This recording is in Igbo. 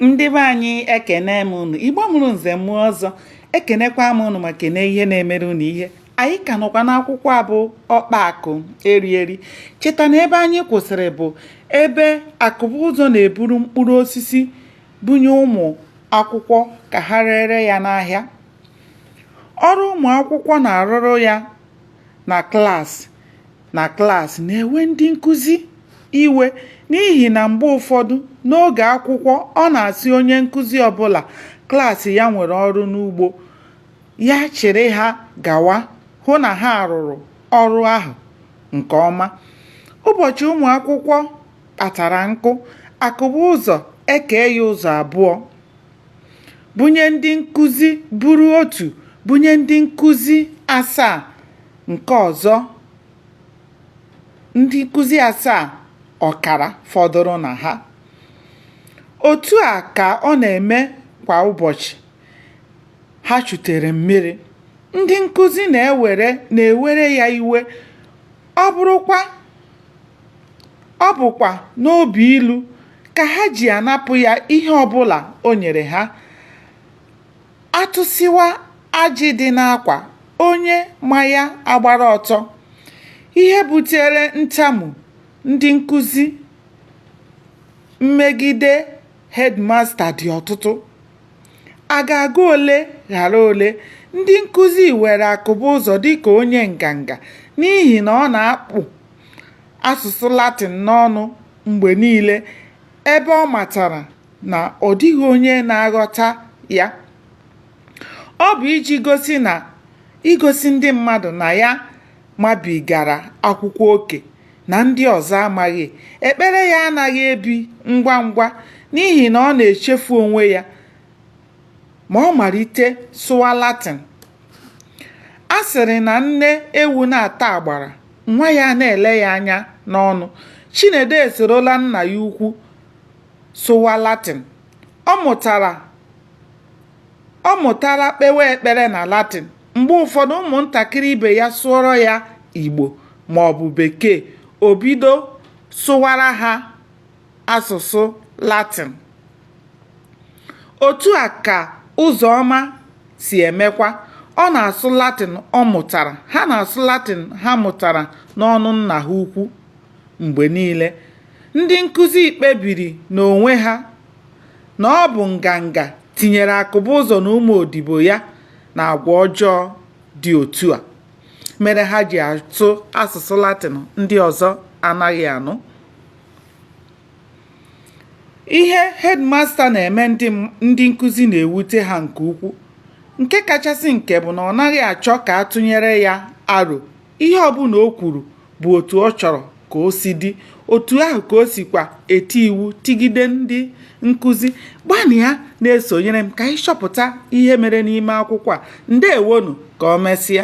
ndị be anyị ekene m unu igbo mụrụ nze mụọ ọzọ ekenekwa m unu ma kene ihe na-emere unu ihe anyị ka nọkwa n'akwụkwọ a bụ ọkpa akụ eri eri cheta na ebe anyị kwụsịrị bụ ebe akụbụzọ na-eburu mkpụrụ osisi bunye ụmụ akwụkwọ ka ha rere ya n'ahịa ọrụ ụmụ akwụkwọ na-arụrụ ya na klaasị na klaasị na-ewe ndị nkụzi iwe n'ihi na mgbe ụfọdụ n'oge akwụkwọ ọ na-asị onye nkụzi ọbụla klaasị ya nwere ọrụ n'ugbo ya chịrị ha gawa hụ na ha rụrụ ọrụ ahụ nke ọma ụbọchị ụmụ akwụkwọ kpatara nkụ akụbụzọ ekee ya ụzọ abụọ bunye ndị nkụzi buru otu bunye ndị nkụzi asaa Nke ọzọ, ndị nkụzi asaa ọkara fọdụrụ na ha. Otu a ka ọ na-emekwa ụbọchị ha chutere mmiri. Ndị nkụzi na-ewere na-ewere ya iwe, ọ bụrụkwa ọ bụkwa n'obi ilu ka ha ji anapụ ya ihe ọbụla o nyere ha. a tụsịwa ajị dị n'akwa onye ma ya agbara ọtọ, ihe butere ntamu ndị nkuzi megide hedmasta dị ọtụtụ, a ga-agụ ole ghara ole, ndị nkuzi were Akụbụzọ dịka onye nganga n'ihi na ọ na-akpụ asụsụ Latin n'ọnụ mgbe niile ebe ọ matara. na ọ dịghị onye na-aghọta ya ọ bụ iji gosi na igosi ndị mmadụ na ya mabigara akwụkwọ oke na ndị ọzọ amaghị ekpere ya anaghị ebi ngwa ngwa n'ihi na ọ na-echefu onwe ya ma ọ malite sụwa Latin a sịrị na nne ewu na-ata agbara nwa ya na-ele ya anya n'ọnụ Chinedu esorola nna ya ukwu sụwa Latin. Ọ mụtara ọ mụtara kpewe ekpere na Latin. Mgbe ụfọdụ ụmụntakịrị ibe ya sụọrọ ya Igbo ma ọ bụ Bekee, o bido sụwara ha asụsụ Latin. Otu a ka Ụzọma si emekwa. Ọ na-asụ Latin ọ mụtara. Ha na-asụ Latin ha mụtara n'ọnụ nna ha ukwu mgbe niile. Ndị nkụzi kpebiri n'onwe ha na ọ bụ nganga tinyere Akụbụzọ na ụmụ odibo ya n'agwa ọjọọ dị otu a mere ha ji asụ asụsụ Latịn ndị ọzọ anaghị anụ. Ihe headmaster na-eme ndị nkụzi na-ewute ha nke ukwu. Nke kachasị nke bụ na ọ naghị achọ ka a tụnyere ya aro ihe ọbụla o kwuru bụ otu ọ chọrọ ka o si dị otu ahụ ka o sikwa eti iwu tigide ndị nkụzi gbanịa na-esonyere m ka anyị chọpụta ihe mere n'ime akwụkwọ a ndewonu ka o mesịa